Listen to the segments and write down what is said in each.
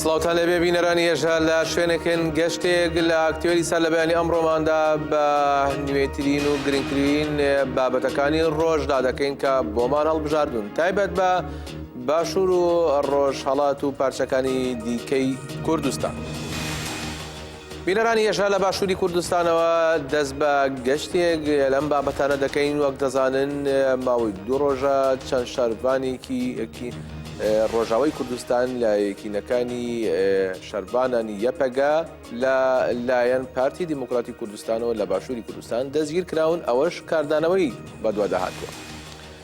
سڵاوتان لەبێ بینەرانی ێژە لە شوێنێکن گەشتێک لە ئاکتێری سەر لە بەیانی ئەمڕۆماندا بە نوێترین و گرنگترین بابەتەکانی ڕۆژدا دەکەین کە بۆمان هەڵبژاردون تایبەت بە باشوور و ڕۆژ هەڵات و پارچەکانی دیکەی کوردستان. بینەرانی ئێشە لە باشووری کوردستانەوە دەست بە گەشتێک لەم بابەتانە دەکەین وەک دەزانن ماوەی دوو ڕۆژە چەند شارڤانێکی یەکی ڕۆژاوی کوردستان لە یەکینەکانی شەربانانی یەپەگە لە لایەن پارتی دیموکراتی کوردستانەوە لە باشووری کوردستان دەستگیر کراون ئەوەش کاردانەوەی بەدواداهاتوە.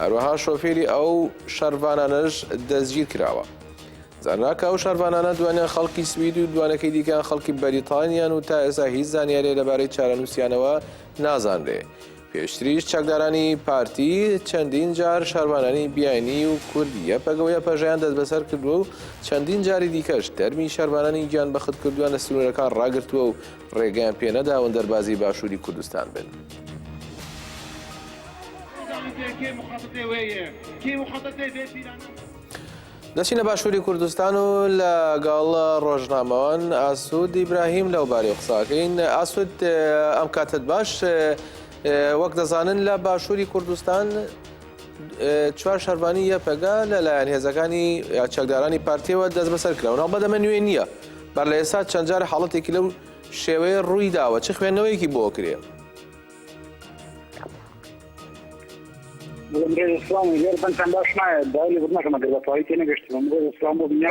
هەروەها شۆفێری ئەو شەرڤانانەش دەستگیرکراوە. زانراوە کە ئەو شەرڤانانە دوانیان خەڵکی سوید و دوانەکەی دیکەیان خەڵکی بەریتانیان و تا ئێستا هیچ زانیارییە لەبارەی چارەنووسیانەوە نازانرێ. پێشتریش چەکدارانی پارتی چەندین جار شەرڤانانی بیانی و کورد یەپەگە و یەپەژەیان دەستبەسەر کردووە و چەندین جاری دیکەش تەرمی شەرڤانانی گیانبەختکردوویان لە سنوورەکان ڕاگرتووە و ڕێگەیان پێ نەداون دەربازی باشووری کوردستان بن. دەچینە باشووری کوردستان و لە گەڵ ڕۆژنامەوان ئاسوود ئیبراهیم لەو بارەی قساکەین ئاسوود ئەم کاتت باش وەک دەزانن لە باشووری کوردستان چوار شەرڤانی یەپەگە لەلایەن هێزەکانی چەکدارانی پارتیەوە دەست بەسەر کراونەوە بەدەمە نوێ نییە بەر لە ئێستا چەندجار حاڵەتێکی لەو شێوەیە ڕووی داوە چ خوێندنەوەیەکی بۆ کرێ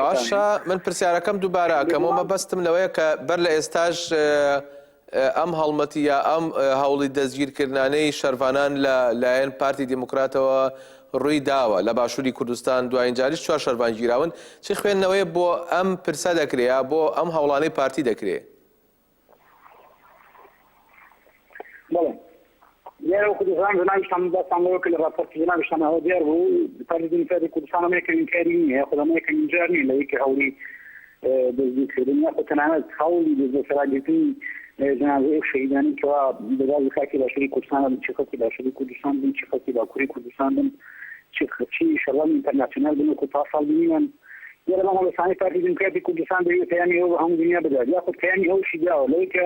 باشە من پرسیارەکەم دووبارە ئەکەمەوە بەستم لەوەیە کە بەر لە ئێستاش ئەم هەڵمەتی یا ئەم هەوڵی دەستگیرکردنانەی شەرڤانان لە لایەن پارتی دیموکراتەوە ڕووی داوە لە باشووری کوردستان دوایین جاریش چوار شەرڤان گیراون چی خوێندنەوەیە بۆ ئەم پرسە دەکرێ بۆ ئەم هەوڵانەی پارتی دەکرێ؟ دیارە وەکو دەزانن جەنابی شاندڵ باسمان لەوە کرد لە ڕاپۆرتی جەنابی شاندڵەوە دیار بوو پارتی دیموکراتی کوردستان ئەمە یەکەمین کاری نییە یاخود ئەمە یەکەمین جار نییە لەوەی کە هەوڵی دەستگیرکردن یاخود تەنانەت هەوڵی دەستبەسەراگرتنی جەنازەی ئەو شەهیدانەی کەوا لە بازی خاکی باشووری کوردستان بن، چی خەڵکی باشووری کوردستان بن، چی خەڵکی باکووری کوردستان بن، چی چی شەڕڤانی ئینتەرناسیۆنال بن وەکو پارساڵ بینیمان. دیارە بەم هەڵوێستانەی پارتی دیموکراتی کوردستان دەیەوێت پەیامی ئەوە بە هەموو دونیا بدات یاخود پەیامی ئەوەشی داوە لەوەی کە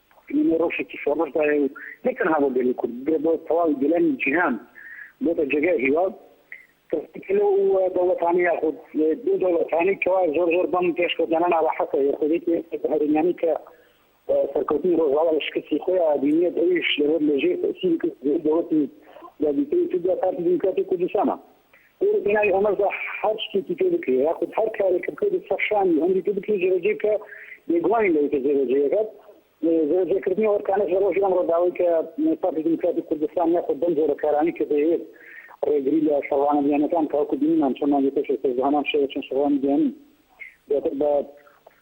ئێمە لە رەوشێکی شۆڕشدایە و نەک تەنها بۆ گەلی کورد، بۆ بۆ تەواوی گەلانی جیهان بۆتە جێگای هیوا. کەسێک لەو دەوڵەتانە یاخود دوو دەوڵەتانەی کەوا زۆر زۆر بەم پێشکەوتنانە ناڕەحەتە، یەکێتی هەرێمیانەی کە سەرکەوتنی رۆژئاوا لە شکستی خۆی ئەبینێت، ئەویش لەبەر لەژێر تەئسیری کردەوەی دەوڵەتی یەکگرتووی تورکیا، پارتی دیموکراتی کوردستانە. ئێرە بناوی ئەمە زە هەر شتێکی پێ بکرێ یاخود هەر کارێکم کرد و سە شانی ئەمری پێ بکرێ جێبەجێ بکە بێگومانی لەوەی کە جێبەجێیەکەت جێبەجێکردنی ئەو ئەرکانەش لە ڕۆژی ئەمڕۆ داوای کە پارتی دیموکراتی کوردستان یاخود بەم جۆرە کارانەی کە دەیەوێت ڕێگری لە شەڕوانە بیانەکان تاوەکو بینیمان چۆن مانگی پێش ئێستاش بە هەمان شێوە چەند شەڕوانی بیانی دواتر بە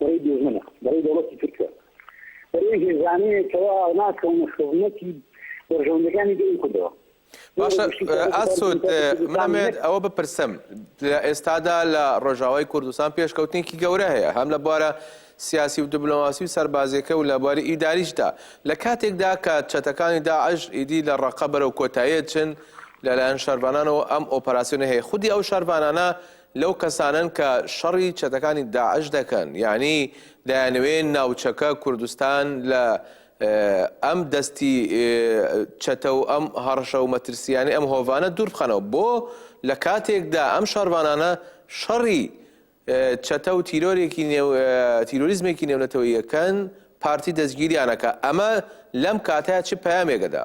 بەرەی دوژمنە، بەرەی دەوڵەتی تورکە، بەرەی هێزانەیە کەوا ناکەونە خزمەتی بەرژەوەندیەکانی گەلی کوردەوە. باشە ئاسود منەمەوێت ئەوە بپرسم لە ئێستادا لە ڕۆژاوای کوردستان پێشکەوتنێکی گەورە هەیە هەم لە بوارە سیاسی و دبلۆماسی و سەربازیەکە و لە بواری ئیداریشدا لە کاتێکدا کە چەتەکانی داعش ئیدی لە ڕقە بەرەو کۆتاییە چن لەلایەن شەربانانەوە ئەم ئۆپەراسسیۆنە هەیە خودی ئەو شەربانانە لەو کەسانەن کە شەڕی چەتەکانی داعش دەکەن یانی دەیانەوێ ناوچەکە کوردستان لە ئەم دەستی چەتە و ئەم هەڕشە و مەترسیانی ئەم هۆڤانە دوور بخەنەوە بۆ لە کاتێکدا ئەم شەڕوانانە شەڕی چەتە و تیرۆرێکی نێو تیرۆریزمێکی نێونەتەوەیەکەن پارتی دەستگیریانەکە ئەمە لەم کاتە چ پامێکەدا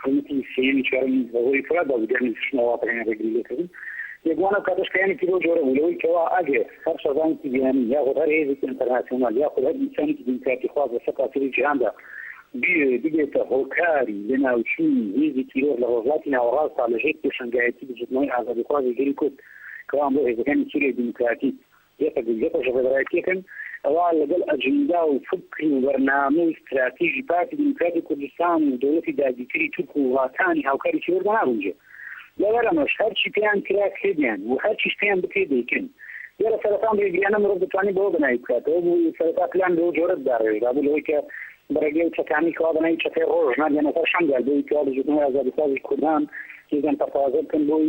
خولەکی سێیەمی چوارەم بەهۆی فرە بازرگانی دروشمە وڵاتەکانی ڕێگری لێکردن. یەکبوانە و کاتەش پەیامێکی لەو جۆرە بوو لەوەی کەوا ئەگەر هەر شەڕڤانێکی بیانی یاخود هەر هێزێکی ئەنتەرناسیۆنال یاخود هەر ئینسانێکی دیموکراتیخواز لە سەرتاسەری جیهاندا بیەوێت ببێتە هۆکاری لەناوچوونی هێزی تیرۆر لە ڕۆژهەڵاتی ناوەڕاستدا لەژێر پێشەنگایەتی بزووتنەوەی ئازادیخوازی گەلی کورد کەوا ئەمڕۆ هێزەکانی سوریای دیموکراتیک یەپەگە گەپە ڕێبەرایەتییەکەن، ئەوا لەگەڵ ئەجندا و فکر و بەرنامە و ستراتیژی پارتی دیموکراتی کوردستان و دەوڵەتی داگیرکەری تورک و وڵاتانی هاوکاری تیرۆردا ناگونجێت. لەبەر ئەمەش هەرچی پێیان کرا کردیان و هەرچیش پێیان بکرێت دەیکەن. دیارە سەرەتا ئەم ڕێگرییانە مرۆڤ دەتوانێت بەوە بەناوی بکاتەوە و سەرەتا پلان بەو جۆرە داڕێژرابوو لەوەی کە بە ڕێگەی ئەو چەتانەی کەوا بە ناوی چەتەی ڕۆژ ناردیانە سەر شەنگال بۆ ئەوەی کەوا بزووتنەوەی ئازادیخوازی کوردان هێزیان پەرتەوازە بکەن بۆی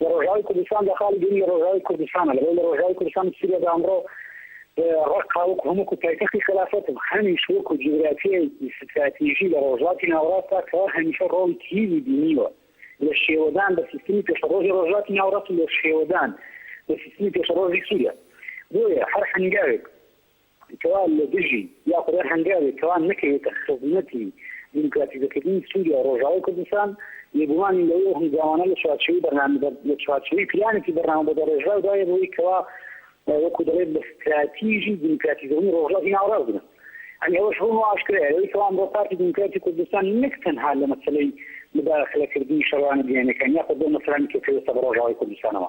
لە ڕۆژاوای کوردستاندا خاڵی دووەم لە ڕۆژاوای کوردستانە لەبەر لە ڕۆژاوای کوردستان و سوریادا ئەمڕۆ ڕەققا وەکو هەم وەکو پایتەختی خەلافەت و هەمیش وەکو جوگرافیایەکی ستراتیژی لە ڕۆژهەڵاتی ناوەڕاستدا کە هەمیشە ڕۆڵی کلیلی بینیوە لە شێوەدان بە سیستمی پێشەڕۆژی ڕۆژهەڵاتی ناوەڕاست و لە شێوەدان بە سیستمی پێشەڕۆژی سوریا بۆیە هەر هەنگاوێک کەوا لە دژی یا خودای هەنگاوێک کەوا نەکەوێتە خزمەتی دیموکراتیزەکردنی سووریا و ڕۆژاوای کوردستان، بێگومانین لەوەی ئەو هەنگاوانە لە چوارچێوەی بەرنامە لە چوارچێوەی پلانێکی بەرنامە بەدەڕێژراودایە بۆی کەوا وەکوو دەڵێت بە ستراتیژی دیموکراتیزەونی ڕۆژاوی ناوەڕاست بنێت. یانی ئەوەش ڕوون و ئاشکرایە لەوەی کەوا ئەمڕۆ پارتی دیموکراتی کوردستان نەک تەنها لە مەسەلەی موداخەلەکردنی شەڕوانە بیانییەکان یاخود بۆ مەسەلانی کە پەیوەستە بە ڕۆژاوای کوردستانەوە،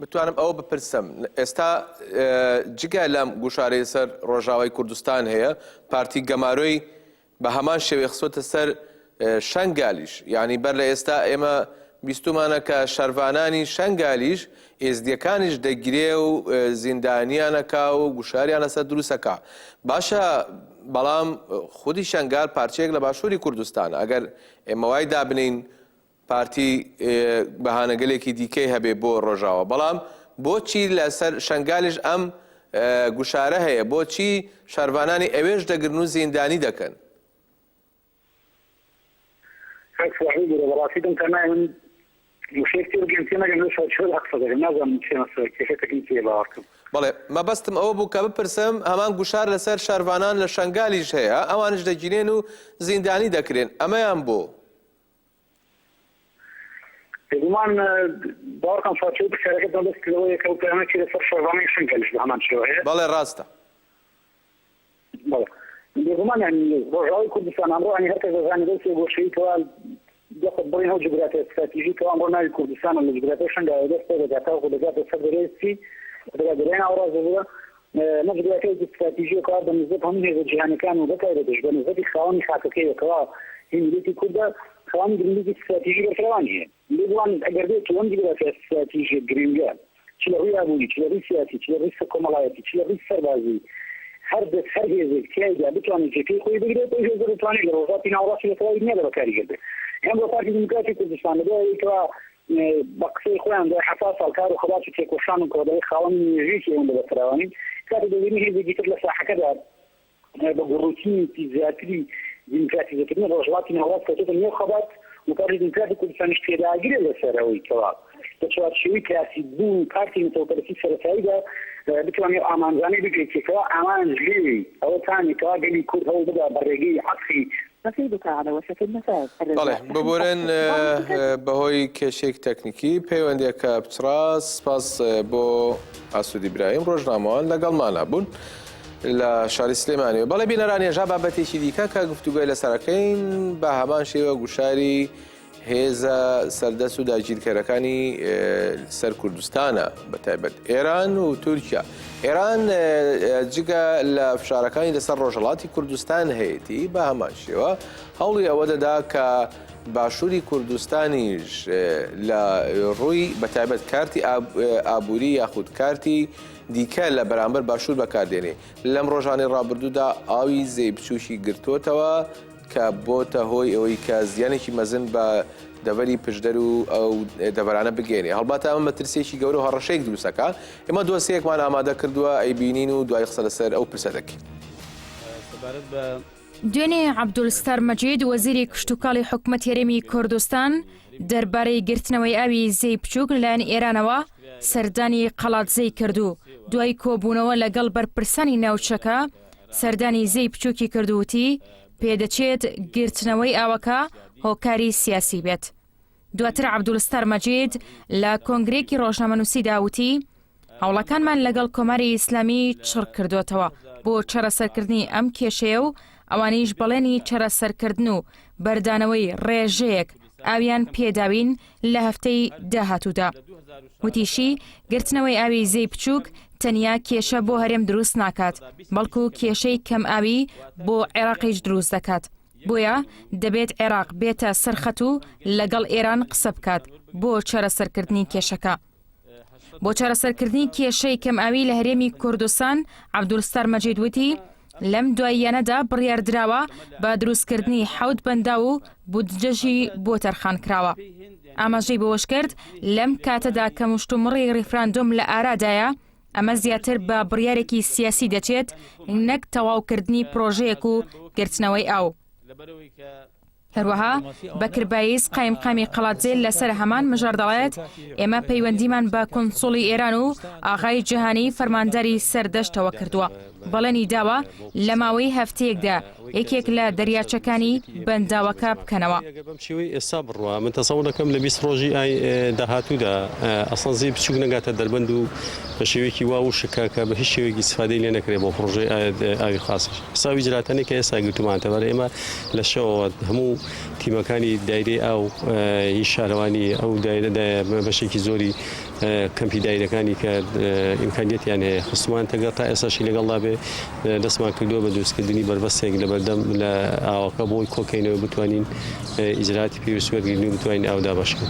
بتوانم ئەوە بپرسم ئێستا جگە لەم گوشارەی سەر ڕۆژاوای کوردستان هەیە پارتی گەمارۆی بە هەمان شێوەی خسۆتە سەر شەنگالیش یعنی بەر لە ئێستا ئێمە بیستمانە کە شەرڤانانی شەنگالیش ئێزدیەکانیش دەگرێ و زیندانیانەکە و گوشاریان لەسەر دروستەکە باشە بەڵام خودی شەنگال پارچەیەک لە باشووری کوردستان ئەگەر ئێمە وای دابنین پارتی بەهانەگەلێکی دیکەی هەبێ بۆ ڕۆژاوا بەڵام بۆچی لە سەر شەنگالیش ئەم گوشارە هەیە بۆچی شارڤانانی ئەوێش دەگرن و زیندانی دەکەن؟ کاک سواحیل برۆ بەڕاستی دەم تا نایە من وشەیەک تێ بگەم تێ نەگەم لەو چوارچێوە دا قسە دەکەم نازانم چیە مەسەلە کێشەتەکەی چیە باوەڕ کەم بەڵێ مەبەستم ئەوە بوو کە بپرسم هەمان گوشار لەسەر شارڤانان لە شەنگالیش هەیە ئەوانش دەگیرێن و زیندانی دەکرێن ئەمەیان بۆ بێگومان باوەڕکەن فاتیۆ پرسیارەکەت مەبەست لەوەیە کە ئەو پەیامەی چی لەسەر شەڕڤانەی شەنکەلیش بەهەمان شێوە هەیە؟ بەڵێ ڕاستە. بەڵێ بێگومان یانی ڕۆژاوای کوردستان ئەمڕۆ یانی هەرکەس دەزانێت ئەو سێ گۆشەی کەوا دەخت بڕین ئەو جوگرافیا ستراتیژی کەوا ئەمڕۆ ناوی کوردستانە لە جوگرافیای شەنگاوە دەست پێدەکات تاوەکو دەگاتە سەر دەریای سپی، دەگاتە دەریای ناوەڕاست ببورە، نەزریاکەی ستراتیژی و کار بە نسبەت هەموو هێزە جیهانیەکان و بەتایبەتیش بە نسبەتی خاوەنی خاکەکەیەوە کەوا هی میلەتی کوردە خاوەنی گرنگیەکی ستراتیژی بەرفراوانی هەیە لێ بوانێت ئەگەر بێت و ئەم جوگرافیا ستراتیژیە گرنگە چ لە ڕووی ئابووری چ لە ڕووی سیاسی چ لە ڕووی سە کۆمەڵایەتی چ لە ڕووی سەربازی هەر دەس هەر هێزێک تیایدا بتوانێت جێکەی خۆی بگرێت ئەو هێزە دەتوانێت لە ڕۆژاتی ناوەڕاستی بە تەواوی دنیادا بەکاری گردێت ئێمڕۆ پارتی دیموکراتی کوردستان لە دوای ئەوەی کەوا بە قسەی خۆیان دوای حەفتا ساڵ کار و خەبات و تێکۆشان و کۆدەڵی خاوەنی مێژوویەکی ئەوەندە بەفراوانی، کاتێک دەبینی هێزێکی تر لە ساحەکەدا بە گوڕوتینێکی زیاتری دیموکراتیزەکردنی ڕۆژهەڵاتی ناوەڕاست کەوتۆتە نێو خەبات و پارتی دیموکراتی کوردستانیش پێداگرە لەسەر ئەوەی کەوا لە چوارچێوەی کلاسیک بوون و پارتی نەتەوەپەرستی سەرەتاییدا بتوانێ ئەو ئامانجانەی بگەیەنێ کەوا ئامانج لێی ئەوەتانە کەوا گەلی کورد هەوڵ بدا بە ڕێگەی عەتفی بەڵێ ببورن بەهۆی کێشەیەک تەکنیکی پەیوەندیەکە پچڕا سپاس بۆ ئاسودی برایم ڕۆژنامەوان لەگەڵمانە بوون لە شاری سلێمانی و بەڵێ بینەران ێژا بابەتێکی دیکە کە گفتوگوۆی لەسەرەکەین بە هەمان شێوە گوشاری هێزە سەردەست و داگیرکەرەکانی سەر کوردستانە بە تایبەت ئێران و تورکیا ئێران جگە لە فشارەکانی لەسەر ڕۆژهڵاتی کوردستان هەیەی بە هەمان شێوە هەوڵی ئەوە دەدا کە باشووری کوردستانیش لە ڕووی بە تایبەت کارتی ئابووری یاخود کارتی دیکە لە بەرامبەر باشوور بەکاردێنێ لەم ڕۆژانی ڕابردوودا ئاوی زەی بچووکی گرتوتەوە کە بۆتە هۆی ئەوەی کە زیانێکی مەزن بە دەڤەری پشدەر و ئەو دەڤەرانە بگەێنێ هەڵبات ئەمە مەترسیێکی گەورە هەڕەشەیەک دروستەکە ئێمە دۆسیەکمان ئامادە کردووە ئەی بینین و دوای قسە لەسەر ئەو پرسە دەکەین سەبارەت بە دوێنێ عەبدولستار مەجید وەزیری کشتوکاڵی حکومەت هەرێمی کوردستان دەربارەی گرتنەوەی ئاوی زێی بچووک لەلایەن ئێرانەوە سەردانی قەڵادزێی کردو دوای کۆبوونەوە لەگەڵ بەرپرسانی ناوچەکە سەردانی زێی بچووکی کرد و وتی، پێدەچێت گرتنەوەی ئاوەکە هۆکاری سیاسی بێت. دواتر عەبدولستار مەجید لە کۆنگرەیەکی ڕۆژنامەنووسیدا وتی، هەوڵەکانمان لەگەڵ کۆماری ئیسلامی چڕکردۆتەوە بۆ چارەسەرکردنی ئەم کێشەیە و ئەوانیش بەڵێنی چارەسەرکردن و بەردانەوەی ڕێژەیەک ئاویان پێداوین لە هەفتەی داهاتوودا. وتیشی، گرتنەوەی ئاوی زێی بچووک تەنیا کێشە بۆ هەرێم دروست ناکات، بەڵکو کێشەی کەم ئاوی بۆ عێراقیش دروست دەکات، بۆیە دەبێت عێراق بێتە سەر خەت و لەگەڵ ئێران قسە بکات بۆ چارەسەرکردنی کێشەکە. بۆ چارەسەرکردنی کێشەی کەمئاوی لە هەرێمی کوردستان عبدولستار مەجید وتی لەم دواییانەدا بڕیاردراوە بە دروستکردنی حەوت بەندا و بودجەژی بۆ تەرخان کراوە ئاماژەی بەوەش کرد لەم کاتەدا کە مشتومڕی ریفراندۆم لە ئارادایە ئەمە زیاتر بە بڕیارێکی سیاسی دەچێت نەک تەواوکردنی پرۆژەیەک و گرتنەوەی ئەو هەروەها بەکر بایز قایمقامی قەڵادزێ لەسەر هەمان مژار دەڵێت ئێمە پەیوەندیمان بە کونسوڵی ئێران و ئاغای جیهانی فەرمانداری سەردەشتەوە کردووە بەڵێنی داوە لە ماوەی هەفتەیەکدا یەکێک لە دەریاچەکانی بەنداوەکە بکەنەوە ئێستا بڕوا من تەسەوڵ دەکەم لە بیست ڕۆژی ئای داهاتوودا ئەسڵەن زی بچوک نەگاتە دەربەند و بە شێوەیەکی وا وشکە کە بە هیچ شێوەیەکی سفادەی لێ نەکرێت بۆ پڕۆژەی ئاوی خاصش حسابی جلاتانەی کە ئێستا گرتومانتە بەر ئێمە لە شەوەوە هەموو تیمەکانی دایرەی ئاو هی شارەوانی ئەو دایرە بەشێکی زۆری کەمپی دایرەکانی کە ئیمکانیەتیان هەیە خستمان تەگە تا ئێساشی لەگەڵدا بێ دەستمان کردووە بە دروستکردنی بەربەستێک لە بەردەم لە ئاوەکە بۆی کۆکەینەوە بتوانین ئیجراتی پێویست وەرگین و بتوانین ئاودا بەشکن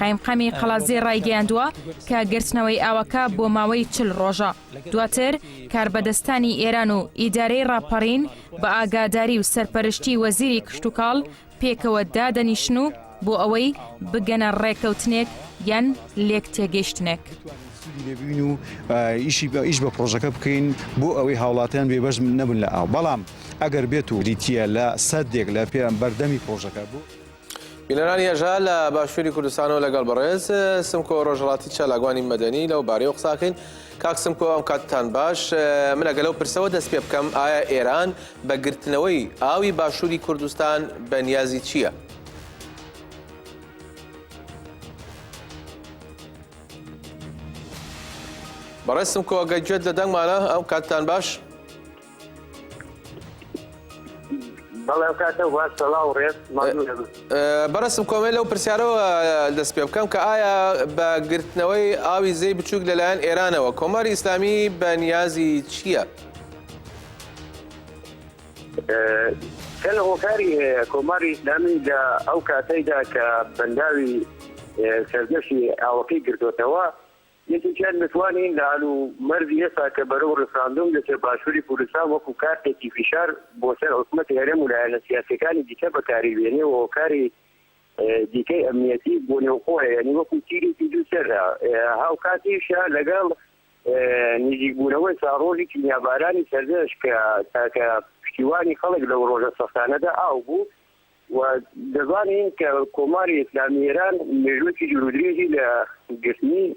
قایمقامی قەڵازێ ڕایگەیاندووە کە گرتنەوەی ئاوەکە بۆ ماوەی چل ڕۆژە. دواتر کاربەدەستانی ئێران و ئیدارەی ڕاپەڕین بە ئاگاداری و سەرپەرشتی وەزیری کشتوکاڵ پێکەوە دادەنیشن و بۆ ئەوەی بگەنە ڕێکەوتنێک یان لێک تێگەیشتنێک. لێبووین و ئیشی بە ئیش بە پرۆژەکە بکەین بۆ ئەوەی هاوڵاتیان بێبەش نەبن لە ئاو بەڵام ئەگەر بێت و بریتە لە سەدێک لە پێیان بەردەمی پرۆژەکە بوو. بینەرانی هەژا لە باشووری کوردستانەوە لەگەڵ بەڕێز سمکۆ ڕۆژهڵاتی چالاگوانی مەدەنی لەو بارەیەوە قساکەین کاک سمکۆ ئەم کاتتان باش منەگە لەو پرسەوە دەست پێ بکەم ئایا ئێران بە گرتنەوەی ئاوی باشووری کوردستان بە نیازی چییە؟ بەڕێستم کۆگە گوێت لە دەنگمانە ئەو کاتتان باش بەڕستم کۆمە لەو پرسیارەوە دەست پێ بکەم کە ئایا بە گرتنەوەی ئاوی زەی بچووک لەلایەن ئێرانەوە کۆماری ئیسلامی بە نیازی چییە؟ کە لە هۆکاری هەیە کۆماری ئیسلامی لە ئەو کاتەیدا کە بەنداوی سەردەشی ئاوەکەی گردوێتەوە یەکێکیان دەتوانین لە هەل و مەرجی ئێستا کە بەرەو ڕیفراندۆم دەچێت باشووری کوردستان وەکو کارتێکی فیشار بۆ سەر حکومەتی هەرێم و لایەنە سیاسیەکانی دیکە بەکاری بێنێ و هۆکاری دیکەی ئەمنیەتی بۆ نێوخۆیە یانی وەکو تیرێکی دوو سەرە هاوکاتیش لەگەڵ نزیک بوونەوەی ساڕۆژی کیمیابارانی سەردەشت کە تاکە پشتیوانی خەڵک لەو ڕۆژە سەختانەدا ئاو بوو و دەزانین کە کۆماری ئیسلامی ئێران مێژووێکی دوورودرێژی لە گرتنی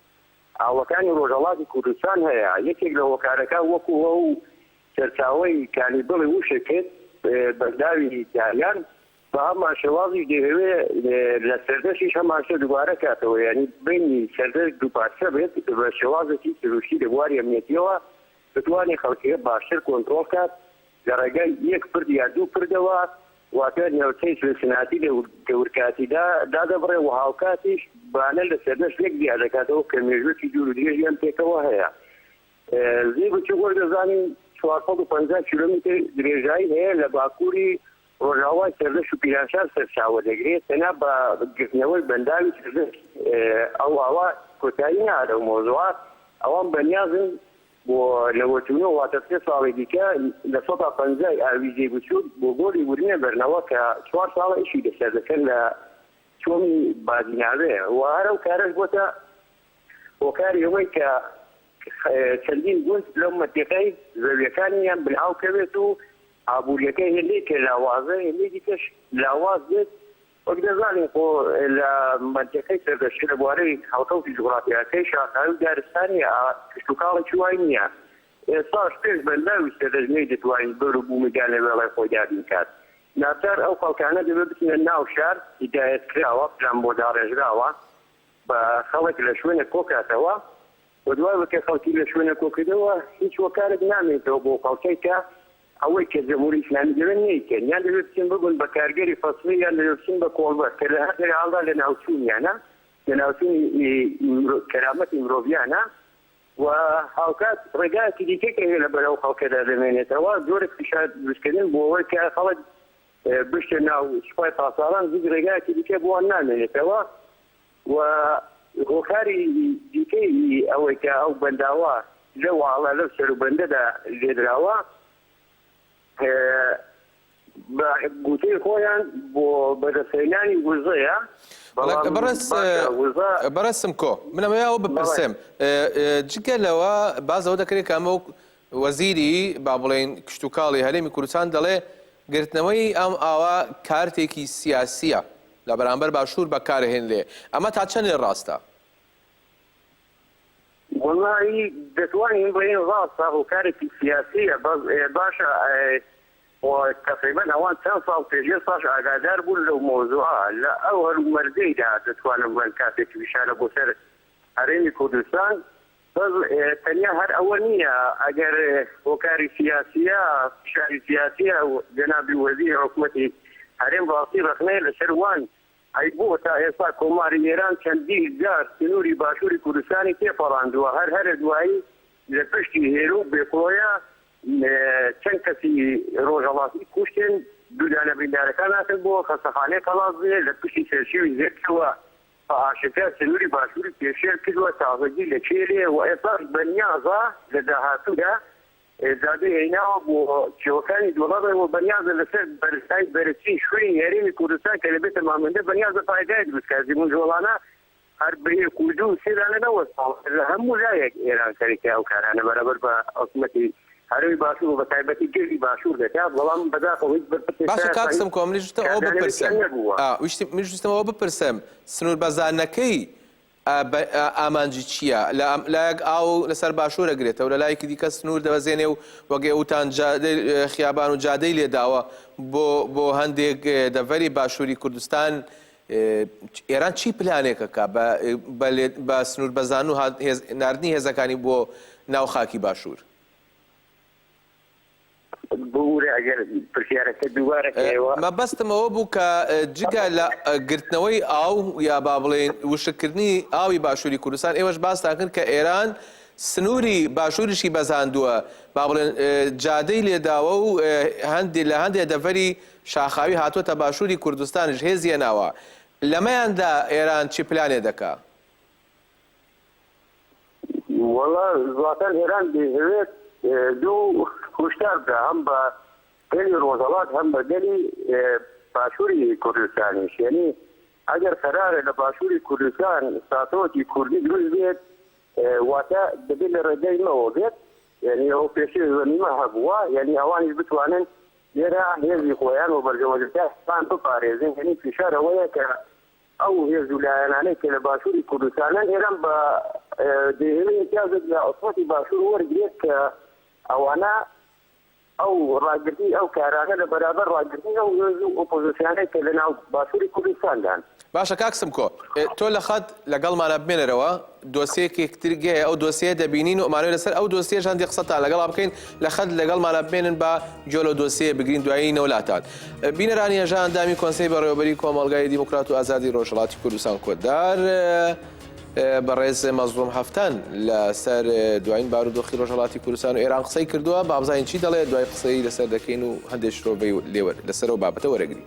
ئاوەکانی ڕۆژهەڵاتی کوردستان هەیە، یەکێک لە هۆکارەکان وەکو ئەو سەرچاوەی کانی بڵێ وشە کرد بەنداوی داریان، بە هەمان شێوازیش دەیهەوێ لە سەردەشیش هەمان شتە دووبارە کاتەوە، یانی بینی سەردەش دوو پارچە بێت بە شێوازێکی سروشتی لە بواری ئەمنیەتیەوە بتوانێ خەڵکیە باشتر کۆنترۆڵ کات لە ڕێگای یەک پرد یا دوو پردەوە واتە ناوچەی سنسناتی لە دەورکاتیدا دادەبڕێ و هاوکاتیش بانە لە سەردەشت یەک جیا دەکاتەوە کە مێژووێکی دوور و درێژیان پێکەوە هەیە. زێی بچووک وەک دەزانین چوار سەد و پەنجا کیلۆمیتر درێژایی هەیە لە باکووری ڕۆژاوای سەردەشت و پیرانشار سەرچاوە دەگرێ تەنها بە گرتنەوەی بەنداوی سەردەشت ئەو ئاوا کۆتایی نایە لەو مەوزوعە ئەوان بەنیازن بۆ لەوەتوونۆ واتە سێ ساڵی دیکە لە سەدا پەنجای ئاویزەی بچووک بۆ گۆلی ورمێ بەرنەوە کە چوار ساڵە ئیشی لەسەر دەکەن لە چۆمی بادیناوێ و هەر ئەو کارەش بۆتە هۆکاری ئەوەی کە چەندین گوند لەو مەتیقەی زەویەکانیان بنهاو کەوێت و ئابووریەکەی هێندەی پێ لاوازە هێندەی دیکەش لاواز بێت وەک دەزانین خۆ لە مەنتیقەی سەردەشتی لە بوارەی هەڵکەوتی جوغرافیاکەی شاخاوی و دارستانی ئا کشتوکاڵێکی وای نییە ئێستاش پێش بە لەو سەردەشت نەی دەتوانی بەر و بوومی دا لە وێڵای خۆی دابین کات ناچار ئەو خەڵکانە دەبێ بچنە ناو شار هیدایەت کراوە پلان بۆ داڕێژراوە بە خەڵک لە شوێنێک کۆ کاتەوە و دوای ئەوەی کە خەڵکی لە شوێنێک کۆ کردەوە هیچ هۆکارێک نامێنێتەوە بۆ خەڵکەی کە ئەوەی کە جمهوری ئیسلامی دەوێت نەیکەن یان دەبێت بچن ببن بە کارگەری فەسلی یان دەبێت بچن بە کۆڵبەر کە لە هەر دەرێ هەڵدا لە ناوچوونیانە لە ناوچوونی مرۆ کەرامەتی مرۆڤیانە و هاوکات ڕێگایەکی دیکەی کە هەیە لە بەر ئەو خەڵکەدا دەمێنێتەوە جۆرێک فشار دروست کردن بۆ ئەوەی کە خەڵک بچتە ناو سوپای پاسداران هیچ ڕێگایەکی دیکە بۆ نامێنێتەوە و هۆکاری دیکەی ئەوەی کە ئەو بەنداوە لەو ئاڵە لەو سەروبەندەدا لێدراوە بە گوتەی خۆیان بۆ بەدەستهێنانی وزەیە. بەڵام بەڕێز باشە وزە بەڕێز سمکۆ من ئەمەوێ ئەوە بەڵێ. بپرسێم ئێ، جگە لەوە باس لەوە دەکرێت کە ئەمە وەک وەزیری با بڵێین کشتوکاڵی هەرێمی کوردستان دەڵێ گرتنەوەی ئەم ئاوە کارتێکی سیاسییە، لە بەرامبەر باشوور بەکارهێنرێ، ئەمە تا چەندێ ڕاستە؟ وەڵا ئی دەتوانین بڵێین ڕاستە هۆکارێکی سیاسیە بەس باشە وە تەقریبەن ئەوان چەند ساڵ پێش ئێستاش ئاگادار بوون لەو مەوزوعە لە ئەو هەلومەرجەیدا دەتوانم بڵێم کاتێک فشارە بۆ سەر هەرێمی کوردستان بەس تەنیا هەر ئەوە نییە، ئەگەر هۆکاری سیاسییە، فشاری سیاسییە، جەنابی وەزیری حکومەتی هەرێم ڕاستی ڕەخنەیە لەسەر وان، ئەی بۆ تا ئێستا کۆماری ئێران چەندین جار سنووری باشووری کوردستانی تێپەڕاندووە، هەر هەرە دوایی لە پشتی هێرو و بێفڕۆیە چەند کەسی ڕۆژهەڵاتی کوشتن، دوو دانە بریندارەکان هاتن بۆ خەستەخانەی قەڵادزێ لە پشتی سەرشێوی زێدکەوە بە ئاشکرا سنووری باشووری پێشێل کردوە، تازەگی لە کێلێ و ئێستاش بە نیازە لە داهاتوودا دادی هێناوە بۆ کێوەکانی دوڵەڕێ و بەنیازە لەسەر بەرزایی بەرزترین شوێنی هەرێمی کوردستان کە دەبێتە مامەندە بەنیازە پایگای دروست بکات، زیموونجۆڵانە هەر بە یەک و دوو و سێ دانە نەوەستاوە، لە هەموو لایەک ئێران سەرەکی ئەو کارانە بەرامبەر بە حکومەتی. هەرێمی باشوور و بەتایبەتی گردی باشوور دەکات، بەڵام بەداخەوە هیچ بەرپرسێک باشە شایەد کاک سمکۆ منیش ویستم ئەوە کاردانەوەی بپرسم تیا نەبووە. ئا ویشتم منیش ویستم ئەوە بپرسم سنوور بەزاندنەکەی ئا بە ئا ئامانجی چییە لە ئەم لایەک ئاو لەسەر باشوور ئەگرێتەوە لە لایەکی دیکە سنوور دەبەزێنێ و وەک ئێ وتان جادەی ئێ خیابان و جادەی لێ داوە بۆ بۆ هەندێک ئێ دەڤەری باشووری کوردستان ئێران چی پلانێکە کا بە بە لێ بە سنوور بەزان و هات هێز ناردنی هێزەکانی بۆ ناو خاکی باشوور؟ ببورە ئەگەر پرسیارەکە دووبارە کەیەوە. مەبەستم ئەوە بوو کە جگە لە گرتنەوەی ئاو یا با بڵێین وشککردنی ئاوی باشووری کوردستان ئێوەش باستان کرد کە ئێران سنووری باشووریشی بەزاندووە با بڵێن جادەی لێداوە و هەندێ لە هەندێ دەڤەری شاخاوی هاتۆتە باشوری کوردستانیش هێزی هێناوە لەمەیاندا ئێران چی پلانێ دەکا؟ وەڵا زاتەن ئێران دەیهەوێت دوو کوشتار بدا هەم بە گەلی ڕۆژەڵات هەم بە گەلی باشوری کوردستانیش یەنی ئەگەر قەرارە لە باشوری کوردستان ساتۆکی کوردی دروست بێت واتە دەبێت لە ڕێگەی مەوە بێت یەنی ئەو پێشێ زەمیمە هەبووە یەنی ئەوانیش بتوانن لێرە هێزی خۆیان و بەرژەوەندەکانی خۆیان بپارێزن، یەنی فشار ئەوەیە کە ئەو هێز و لایەنانەی کە لە باشوری کوردستانن ئێران بە دێهێڵی ئیمتیازێک لە حکومەتی باشور وەرگرێت کە ئەوانە ئەو ڕاگرتنی ئەو کارانە لە بەرابەر ڕاگرتنی ئەو هێز و ئۆپۆزسیانەی کە لە ناو باشوری کوردستاندان. باشە کاک سمکۆ تۆ لە خەت لەگەڵمانە بمێنەرەوە دۆسیەکێک تر گەیە ئەو دۆسیە دەبینین و ئەمانوێ لەسەر ئەو دۆسیەش هەندێک قسەتان لەگەڵا بکەین لە خەت لەگەڵمانە بمێنن با گوێ لەو دۆسیە بگرین دوایی نەوە لاتان بینەرانی هێژا ئەندامی کۆنسەی بەڕێوەبەری کۆمەڵگای دیموکرات و ئازادی ڕۆژهەڵاتی کوردستان کۆدار بەڕێز مەزڵوم هەفتان لەسەر دوایین بارودۆخی ڕۆژهەڵاتی کوردستان و ئێران قسەی کردووە بابزانین چی دەڵێ دوای قسەی لەسەر دەکەین و هەندێک شرۆڤەی لێوە لەسەرەوە بابەتە وەرەگرین.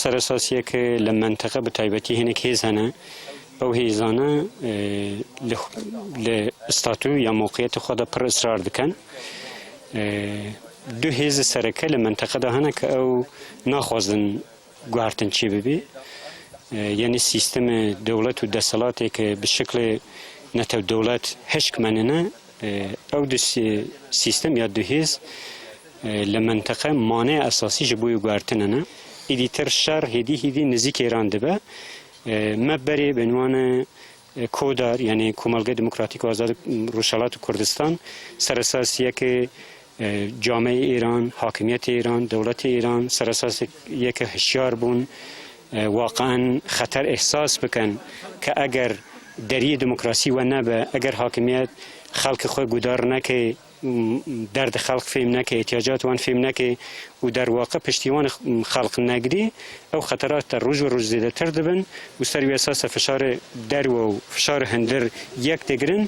سەرەساسیەک لە مەنتەقە بە تایبەتی هێنێک هێز هەنە ئەو هێزانە لە ئستاتو یا موقعەتی خۆدا پڕ ئسرار دکەن دو هێز سەرەکە لە مەنتەقەدا هەنە کە ئەو ناخوازن گوارتن چی ببێ یعنی سیستم دەوڵەت و دەسەڵاتێک بشکلێ نەتەو دەوڵەت هشکمەننە ئەو دو سیستەم یا دو هێز لە مەنتەقە مانەیە ئەساسی ژە بوی گوارتنەنە ئیدی تر شەر هێدی هیدی نزیک ئێران دبە مە بەرێ بنوانە کۆدار یعنی کومەلگە دموکراتیک و ئازاد روژهەڵات کوردستان سەرەساسیەکێ جامەی ئێران، حاکمیەتی ئێران، دەوڵەتی ئێران سەر ئەساس یە کە هشیار بوون واقعەن خەتەر ئیحساس بکەن کە ئەگەر دەریێ دموکراسی وە نەبە ئەگەر حاکمیەت خەڵکی خۆی گودار نەکەی دەرد خەڵق فێم نەکەی احتیاجات وان فێم نەکەی و دەرواقع پشتیوان خەڵق نەگری ئەو خەتەرات تە ڕۆژ و ڕۆژ زێدەتر دەبن و سەر وێساسە فشار دەروە و فشار هەندر یەک دەگرن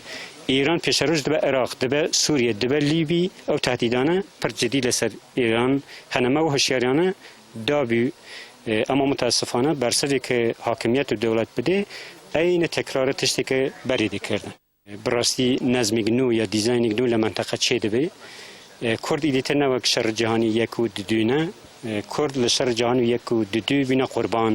ئێران پێشەرۆژ دبە ئێراق، دبە سووریە، دبە لیبی، ئەو تەهدیدانە پڕ جدی لە سەر ئێران هەنە. مە و هۆشیاریانە دابی ئەما موتاسفانە بەرسڤێ ک هاکمیەت و دەولەت بدێ ئەیینە تەکرارە تشتێ ک بەرێ دێ کردن. بڕاستی نەزمێگ نوو یا دیزاینێگ نوو لە مەنتەقە چێ دبێ. کورد ئیدی تر نەوەک شەڕ جەهانی یەک و ددوینە. کورد لە شەڕ جەهانی یەک و ددوی بوینە قوربان.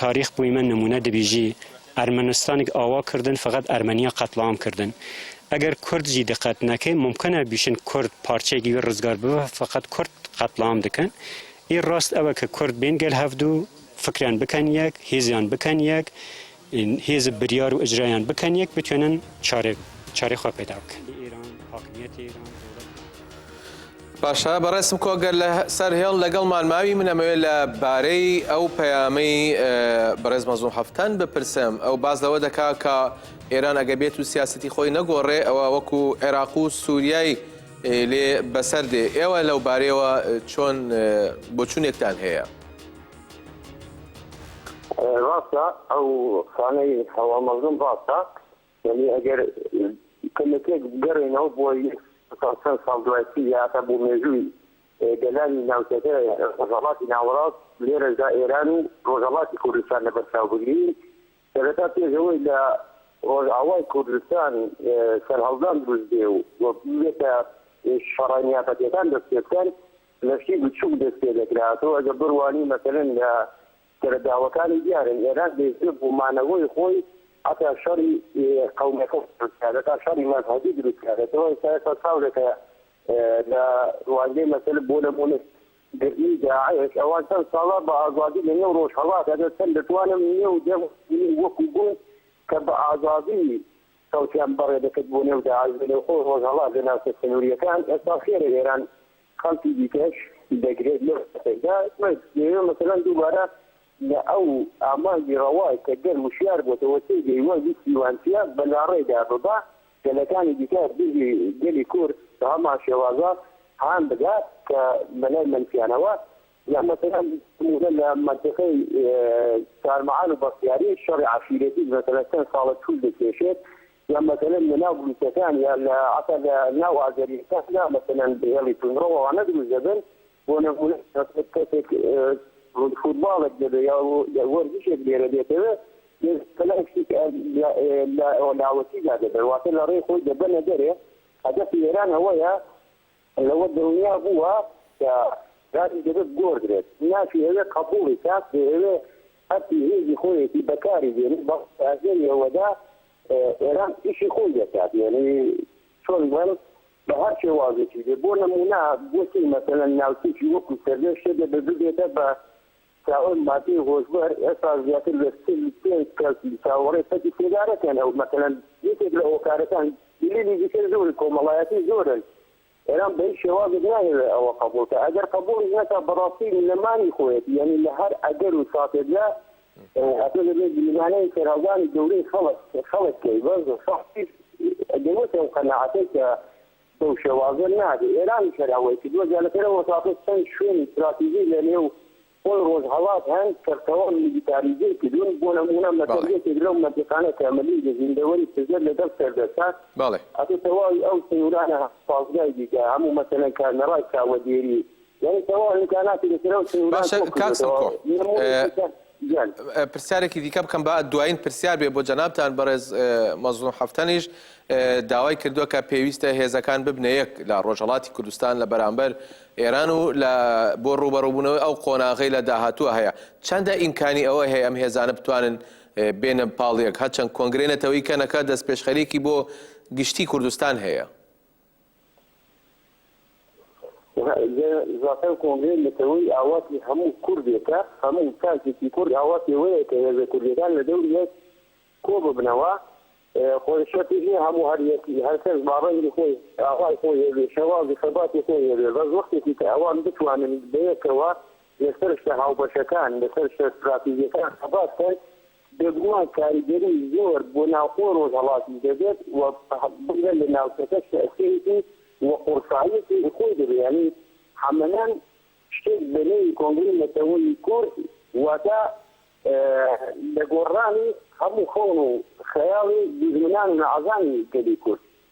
تاریخ بوی مە نمونە دبیژی ئەرمەنستانیگ ئاوا کردن فەقەت ئەرمەنیا قەتڵام کردن ئەگەر کورد ژی دقەت نەکەی مومکەنە بیشن کورد پارچەیگ وی رزگار ببە فەقەت کورد قەتڵام دکەن ئی راست ئەوە ک کورد بین گەل هەفدو فکریان بکەن یەک هیزیان بکەن یەک هیز بریار و ئجرایان بکەن یەک بتوینن چارەی خوە پەیدا بکەن. باشە بەڕێزم کو گەر لە سەر هێڵ لەگەڵمان ماوی من ئەمەوێت لە بارەی ئەو پەیامەی بەڕێز مەزوم هەفتان بپرسم ئەو باز لەوە دەکا کە ئێران ئەگە بێت و سیاستی خۆی نەگۆڕێ ئەوە وەکو عێراق و سووریای لێ بەسەر دێ ئێوە لەو بارەیەوە چۆن بۆچونێکتان هەیە ڕاستە ئەو سانەی هەوا مەزم ڕاستە یانی ئەگەر کەمێکێک بگەڕێینەوە بۆ یەک ساڵ چەند ساڵ دوای تری یا هەتا بۆ مێژووی گەلانی ناوچەکە ڕۆژهەڵاتی ناوەڕاست لێرەشدا ئێران و ڕۆژهەڵاتی کوردستان لە بەرچاو بگرین سەرەتا پێش ئەوەی لە ڕۆژئاوای کوردستان سەرهەڵدان دروست بێ و بێتە شەڕە نیابەتیەکان دەست پێ بکەن لەشی بچووک دەست پێ دەکرا تۆ ئەگە بڕوانی مەسەلەن لە سەرەداوەکانی دیارن، ئێران دەیەوێت بۆ مانەوەی خۆی هەتا شەڕی قەومیەکان دروست بکات، هەتا شەڕی مەزهەبی دروست بکات، لە دوای ئێستا ئێستا چاورێکە لە ڕوانگەی مەسەلە بۆ نموونە گرتنی داعش ئەوان چەند ساڵە بە ئازادی لە نێو ڕۆژهەڵات ئەگەر چەند دەتوانم نێو دە ملیۆن وەکو بوون کە بە ئازادی چەوتیان بەڕێ دەکرد بۆ نێو داعش لە نێوخۆی ڕۆژهەڵات لە ناوچە سنووریەکان ئێستا خێرە ئێران خەڵکی دیکەش دەگرێت لەو کاتەدا، بەس ئێمە مەسەلەن دووبارە لە ئەو ئامانجی ڕەوا کە گەل وشیار بۆتەوە تێگەی وە ویستی وان چیە بە لاڕێدا ببا گەلەکانی دیکە دژی گەلی کورد بە هەمان شێوازە هان بدات کە بە لای مەنفیانەوە یان مەسەلەن نموونە لە مەنتیقەی چارمەعان و بەختیاری شەڕی عەشیرەتی مەسەلەن چەند ساڵە توول دەکێشێت یان مەسەلەن لە ناو بلوچەکان یان لە عەتا لە ناو ئازەریەکان دا مەسەلەن هێڵی توندڕەو ئەوانە دروست دەبن بۆ نموونە مەسەلەن کەسێک فوتباڵێک دەبێ یا وەرزشێک لێرە دێتەوێ مەسەلەن شتێک لە لاوەکی دا دەبێ واتە لە ڕێی خۆی دەبەنە دەرێ هەدەفی ئێران ئەوەیە لەوە دڵنیا بووە کە دادی دەبێت بگۆردرێت، ناشیهەوێت قەبووڵی کات، دەیهەوێت هەرچی هێزی خۆیەتی بەکاری بێنێت، بەڵام لە ئەگەری ئەوەدا ئێران ئیشی خۆی دەکات، یەعنی چۆن بڵێم بە هەر شێوازێکی بێت، بۆ نموونە گۆتی مەسەلەن ناوچەیەکی وەکو سەردێشت شێت دەبێت ببێتە بە چاوەڕێی مادەی هۆشبەر ئێستا زیاتر لە چل پێنج کەس چاوەڕێی پەتی سیگارەکەن ئەو مەسەلەن یەکێک لە هۆکارەکان دلیلی دیکەی زۆری کۆمەڵایەتی زۆرن ئێران بە هیچ شێوازێک نایەوێت ئەوە قەبوڵ کات ئەگەر قەبوڵیش نەکات بەڕاستی نەمانی خۆیەتی یانی لە هەر ئەگەر و ساتێکدا ئەتۆ دەبێت گریمانەی سەرهەڵدانی گەورەی خەڵک خەڵک کەی بەس سەختیش دەوێتەوە قەناعەتەی کە بەو شێوازە نابێ ئێرانیش هەر ئەوەی کردووە جا لەسەر ئەو ئەساسە چەند شوێنی ستراتیژی لە نێو خۆی ڕۆژهەڵات هەن کە تەواو میلیتاریزەی کردوون بۆ نموونە مەسەل بەڵێ. یەکێک لەو مەنتیقانە کە مەلی لە زیندەوەری پشدەر لە گەڵ سەردەشتە بەڵێ. ئەتۆ تەواوی ئەو سنوورانە پازگای دیکە هەموو مەسەلەن کارنەڕای چاوەدێری یانی تەواو ئیمکاناتی لەسەر ئەو سنوورە باشە کۆ کاک کردۆتەوە. سمکۆ، نموونەیەکی تر گیان. ئە، پرسیارێکی دیکە بکەم با دوایین پرسیار بێ بۆ جەنابتان، بەڕێز ئە، مەزڵوم حەفتەنیش ئە، داوای کردووە کە پێویستە هێزەکان ببنە یەک لە ڕۆژهەڵاتی کوردستان لە بەرامبەر ئێران و لە بۆ ڕووبەڕووبوونەوەی ئەو قۆناغەی لە داهاتووە هەیە، چەندە ئیمکانی ئەوە هەیە ئەم هێزانە بتوانن ئە، بێنە پاڵ یەک، هەرچەند کۆنگرەی نەتەوەیی کەنەکە دەستپێشخەرییەکی بۆ گشتی کوردستان هەیە؟ زاتەن کۆنگرەی نەتەوەیی ئاواتی هەموو کوردێکە، هەموو تاکێکی کورد ئاواتی ئەوەیە کە هێزە کوردیەکان لە دەوری یەک کۆ ببنەوە، خۆی شەرتیش نیە هەموو هەر یەک هەر کەس باڕەنگی خۆی ئاوای خۆی هەبێ شێوازی خەباتی خۆی هەبێ بەس وەختێکی کە ئەوان بتوانن بەیەکەوە لەسەر شتە هاوبەشەکان لەسەر شتە ستراتیجیەکان خەبات کەن بێگومان کاریگەری زۆر بۆ ناوخۆی ڕۆژهەڵاتیش دەبێت و بگرە لە ناوچەکەش تەئسیرێکی و قورساییەکی خۆی دەبێت، یانی حەمەنان شتێک بە نێوی کۆنگرەی نەتەوەیی کورد واتە لە گۆڕرانی هەموو خەون و خەیاڵی دوژمنان و نەعەزانی گەلی کورد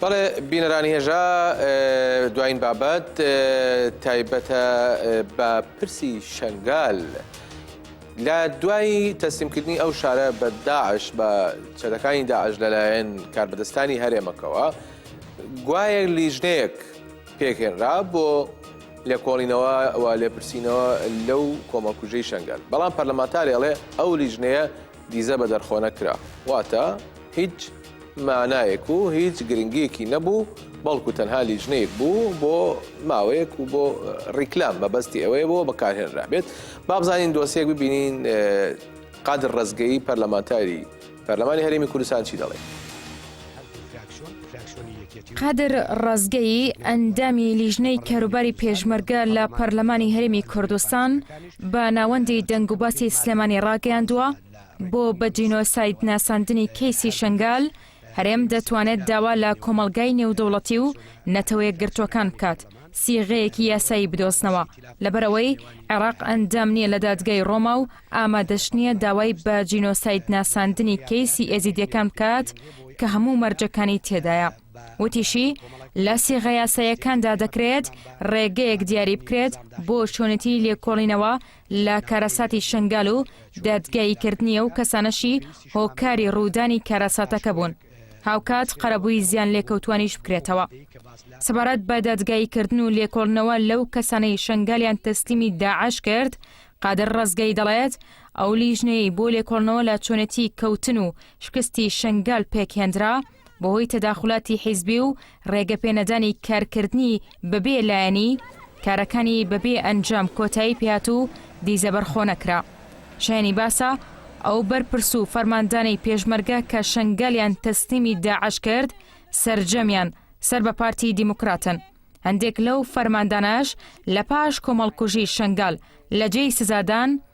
بەڵێ بینەرانی هێژا دوایین بابەت تایبەتە بە پرسی شەنگال لە دوای تەسلیمکردنی ئەو شارە بە داعش بە چەدەکانی داعش لەلایەن کاربەدەستانی هەرێمەکەوە گوایە لیژنەیەک پێکهێنرا بۆ لێکۆڵینەوە و لێپرسینەوە لەو کۆمەڵکوژەی شەنگال بەڵام پەرلەمانتارێڵێ ئەو لیژنەیە دیزە بە دەرخۆ نەکرا واتە هیچ مانایەک و هیچ گرنگیەکی نەبوو بەڵکو تەنها لیژنەیەک بوو بۆ ماوەیەک و بۆ ڕیکلام مەبەستی ئەوەیە بۆ بەکارهێنرابێت بابزانین دۆسیەک ببینین قادر ڕزگەی پەرلەمانتاری پەرلەمانی هەرێمی کوردستان چی دەڵێت قادر ڕزگەی ئەندامی لیژنەی کاروباری پێشمەرگە لە پەرلەمانی هەرێمی کوردستان بە ناوەندی دەنگوباسی سلێمانی ڕاگەیاندووە، بۆ بە جینۆساید ناساندنی کەیسی شەنگال، هەرێم دەتوانێت داوا لە کۆمەڵگای نێودەوڵەتی و نەتەوەیەکگرتووەکان بکات سیغەیەکی یاسایی بدۆزنەوە، لەبەرئەوەی عێراق ئەندام نییە لە دادگای ڕۆما و ئامادەش نییە داوای بە جینۆسایدناساندنی کەیسی ئێزیدییەکان بکات کە هەموو مەرجەکانی تێدایە. وتیشی، لە سیغە یاساییەکاندا دەکرێت رێگەیەک دیاری بکرێت بۆ چۆنێتیی لێکۆڵینەوە لە کارەساتی شنگال و دادگاییکردنی ئەو کەسانەشی هۆکاری روودانی کارەساتەکە بوون، هاوکات قەرەبووی زیانلێکەوتووانیش بکرێتەوە. سەبارەت بە دادگاییکردن و لێکۆڵنەوە لەو کەسانەی شنگالیان تەسلیمی داعش کرد، قادر رەزگەیی دەڵێت، ئەو لیژنەیەی بۆ لێکۆڵنەوە لە چۆنێتیی کەوتن و شکستی شنگال پێکهێندرا، بەهۆی تەداخولاتی حیزبی و ڕێگەپێنەدانی کارکردنی بەبێ لایەنی، کارەکانی بەبێ ئەنجام کۆتایی پێهات و دیزە بەرخۆ نەکرا. شایەنی باسە، ئەو بەرپرس و فەرماندانەی پێشمەرگە کە شەنگالیان تەسلیمی داعش کرد، سەرجەمیان سەر بە پارتی دیموکراتن. هەندێک لەو فەرماندانەش لە پاش کۆمەڵکوژی شەنگال لە جێی سزادان،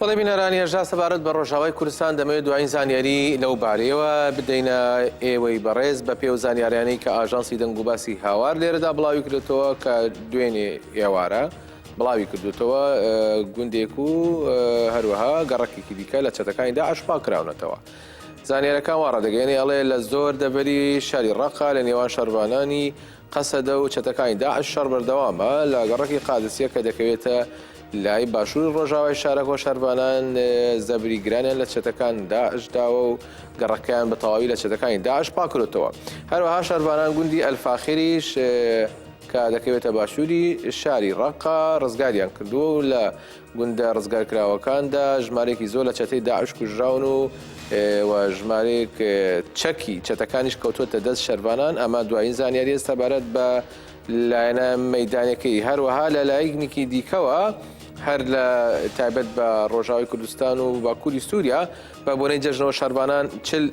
بەڵێ بینەران یەژا سەبارەت بە ڕۆژاوای کوردستان دەمەوێت دوایین زانیاری لەو بارەیەوە بدەینە ئێوەی بەڕێز بە پێو زانیاریانەی کە ئاژانسی دەنگ و باسی هاوار لێرەدا بڵاوی کرێتەوە کە دوێنێ ئێوارە بڵاوی کردوتەوە گوندێک و هەروەها گەڕکێکی دیکە لە چەتەکانی دا ئەشپا کراونەتەوە. زانیارەکان وا ڕدەگەێنێ ئەڵێ لە زۆر دەبەری شاری ڕقا لە نێوان شەرڤانانی قەسەدە و چەتەکانی داعش شەڕ بەردەوامە لە گەڕەکی قادسیە کە دەکەوێتە لای باشووری ڕۆژاوای شارەکە و شەرڤانان زەبری گرانیان لە چەتەکان داعش داوە و گەڕەکەیان بە تەواوی لە چەتەکانی داعش پاکرۆتەوە هەروەها شەرڤانان گوندی ئەلفاخریش کە دەکەوێتە باشووری شاری ڕقا ڕزگاریان کردووە و لە گوندە ڕزگارکراوەکاندا ژمارەیەکی زۆر لە چەتەی داعش کوژراون و و ژمارەیەک چەکی چەتەکانیش کەوتوتە دەست شەربانان ئەمە دوایین زانیاری ئێستا بارەت بە لایەنە مەدانەکەی هەروەها لە لایەکنێکی دیکەوە هەر لە تایبەت بە ڕۆژاوی کوردستان و باکووری سووریا بە بۆنەی جەژنەوە شەربانان چل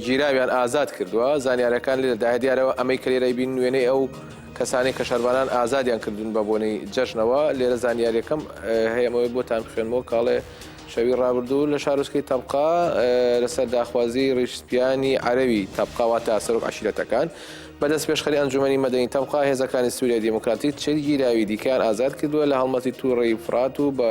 گیراویان ئازاد کردووە زانیارەکان لێرە داە دیارەوە ئەمەی کە لێرەی بین وێنەی ئەو کەسانی کە شەربانان ئازادیان کردوون بە بۆنەی جەژنەوە لێرە زانیاریەکەم هەیەمەوەی بۆتان بخێنمەوە کاڵێ شەوی ڕابردوو لە شارۆسکی تەبقا لەسەر داخوازی ڕیشسپیانی عەرەوی تەبقاوا تا سەرۆک عشیرەتەکان بەدەست پێشخەری ئەنجومی مەدەین تەبقا هێزەکانی سووریای دیموکراتی چل گیراوی دیکەیان ئازاد کردووە لە هەڵمەتی تووڕی فرات و بە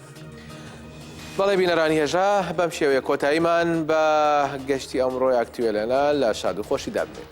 بەڵێ بینەرانی هێژا بەم شێوەیە کۆتاییمان بە گەشتی ئەمڕۆی ئاکتوێلەنا لە شاد و خۆشی دابێت.